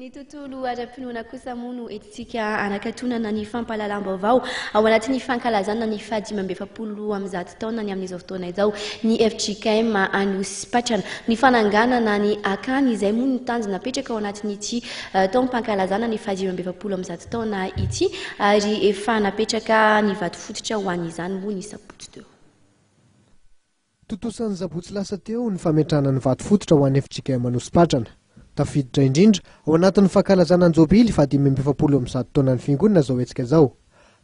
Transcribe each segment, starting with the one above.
Ny tontolo ara-pinoana kosa moa no entintsika hanakatonana ny fampahalalam-baovao ao anatin'ny fankalazana ny fahadimy amby efapolo roa amby zato taonany amin'izao fotoana izao ny fjkm Anosipatrana. Ny fananganana ny akany izay moa no tanjona apetraka ao anatin'ity taom-pankalazana ny fahadimy amby efapolo amby zato taona ity ary efa napetraka ny vatofototra ho an'izany moa ny sabotsy teo. Tontosa ny sabotsy lasa teo ny fametrahana ny vato fototra ho an'ny fjkm Anosipatrana. Tafiditra indrindra ao anatin'ny fankalazana ny jobily fahadimy amby efapolo amin'ny zato taonan'ny fiangonana izao hetsika izao.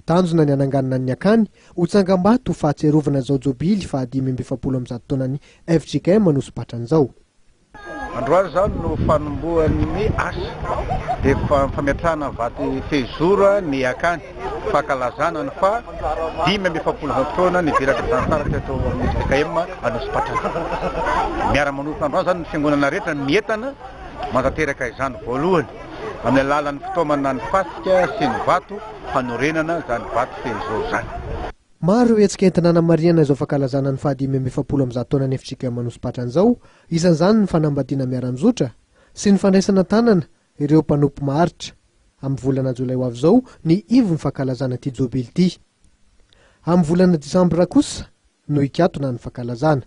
Tanjona ny hananganana ny akany ho tsangambato ho fahatsiarovana izao jobily fahadimy amby efapolo amin'ny zato taonan'ny fjkm Anosipatrana izao. Androany izany no fanombohan'ny asa dia fametrahana vato fehizoro ny Iakany, fankalazana ny faha dimy amby efapolo taona nidirako zanatany teto amin'ny ffkm Anosipatrana. Miara-manomboka androany izany ny fiangonana rehetra mientana manatanteraka izany voalohany amin'ny alalan'ny fitaomana ny fasika sy ny vato hanorenana izany vato fehizoro izany. Maro ireo hetsika entina hanamarihana izao fankalazana ny fahadimy amby efapolo amby zato taonan'ny FJKM Anosipatrana izao, isan'izany ny fanambadiana miara-mizotra sy ny fandraisana an-tanana ireo mpanompo maharitra, amin'ny volana jolay ho avy izao ny ivon'ny fankalazana ity jobily ity. Amin'ny volana desambra kosa no hikatona ny fankalazana.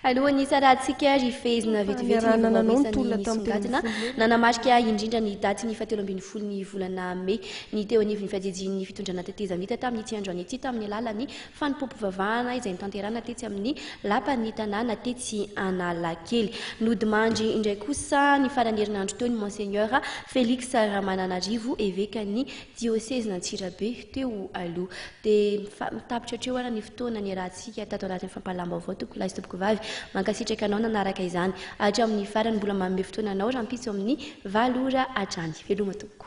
Alohan'ny hitsarahantsika, ry fehezina, vetivety ny voahoesan'ny nisongadina nanamarika indrindra ny datin'ny fahatelo ambin'ny folon'ny volana mey ny teo anivon'ny fiajejian'ny fitondrana tetezamita tamin'ity androany ity tamin'ny alalan'ny fanompoam-pivavahana izay notanterahana tetsy amin'ny lapan'ny tanàna tetsy Analakely. Nodimandry indray kosa ny faran'ny herinandro teo ny Monseigneur Felix Ramananarivo, evekan'i Diosezin'Antsirabe teo aloha. Dia mifa mitapitra hatreo ary ny fotoana niarahantsika tato anatin'ny fampahalalam-baovao tompoko lahy sy tompoko vavy. Mankasitraka anao nanaraka izany hatramin'ny farany. Mbola manome fotoana anao rahampitso amin'ny valo ora hatrany. Veloma tompoko.